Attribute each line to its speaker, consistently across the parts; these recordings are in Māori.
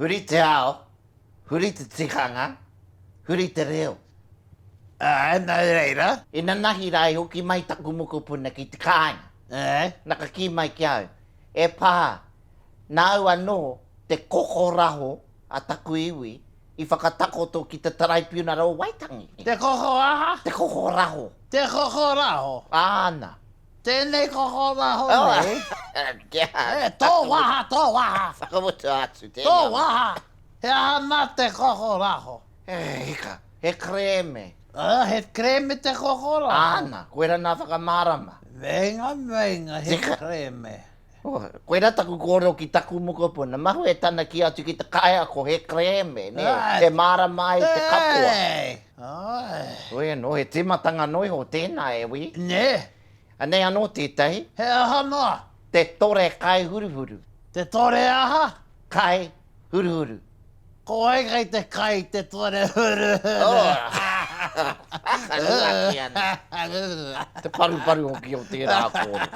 Speaker 1: Huri te ao, huri te tikanga, huri te reo. Āe,
Speaker 2: nō reira. Ina nahi rā i
Speaker 1: hoki mai taku mokopuna ki te kāinga, na ka kī mai ki au, E pā, nāu anō te kokoraho a taku iwi i whakatakoto ki te Taraipiunara o Waitangi. Te koko aha?
Speaker 2: Te kokoraho.
Speaker 1: Te kokoraho?
Speaker 2: Āna.
Speaker 1: Tēnei
Speaker 2: kokoraho nei. Kia āta.
Speaker 1: E, tō waha,
Speaker 2: tō waha. Whakamutu atu tēnei.
Speaker 1: Tō waha.
Speaker 2: He aha nā te kokoraho? E hika,
Speaker 1: he kerēme. Ā, he
Speaker 2: kerēme te kokoraho. Āna, koera nā
Speaker 1: whakamārama. Meinga,
Speaker 2: meinga, he kerēme. Koirā
Speaker 1: taku kōrero ki taku mokopuna, mahue tana kī atu ki te kaiako he kerēme, nē, e mārama ai te katoa. Heoi anō, he tīmatanga noa iho tēnā, e wī. Nē.
Speaker 2: Anei anō
Speaker 1: tētahi. He aha noa?
Speaker 2: Te tore
Speaker 1: kaihuruhuru. Te tore
Speaker 2: aha? Kai.
Speaker 1: huruhuru. Ko wai
Speaker 2: kei te kai i te tuare huruhuru? Whakaruaki
Speaker 1: ana. Te paruparu hoki o tērā kōrero.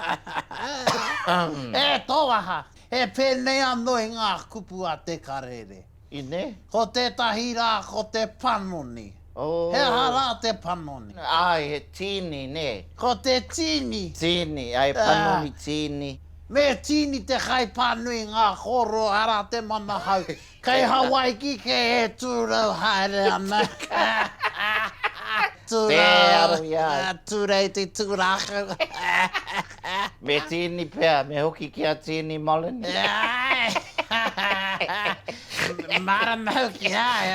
Speaker 1: E
Speaker 2: tō waha, he pēnei anō i ngā kupu a Te Karere. Inē? Ko
Speaker 1: tētahi
Speaker 2: rā ko te panoni. He aha rā te panoni? Āe, he tīni,
Speaker 1: nē. Ko te tīni.
Speaker 2: Tīni, āe,
Speaker 1: panoni, tīni. Me tīni
Speaker 2: te kaipānui ngā kōrua arā te manahau. Kei Hawaiki kē e tūrau haere ana. Tūrau, tūreiti, tūrākau.
Speaker 1: Me tīni pea, me hoki ki a Tīni Molony. Āe,
Speaker 2: mārama hoki, āe.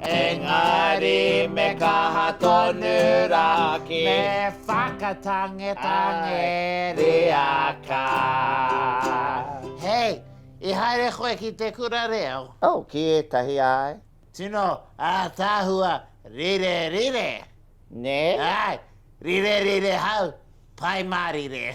Speaker 1: Engari me kaha tonu ra ki. Me
Speaker 2: whakatangetange ria
Speaker 1: ka. Hei,
Speaker 2: i haere koe ki te kura reo? Oh, ki etahi
Speaker 1: ae. Tino
Speaker 2: ataahua rire rire. Ne?
Speaker 1: Ae,
Speaker 2: rire rire hau, pai marire.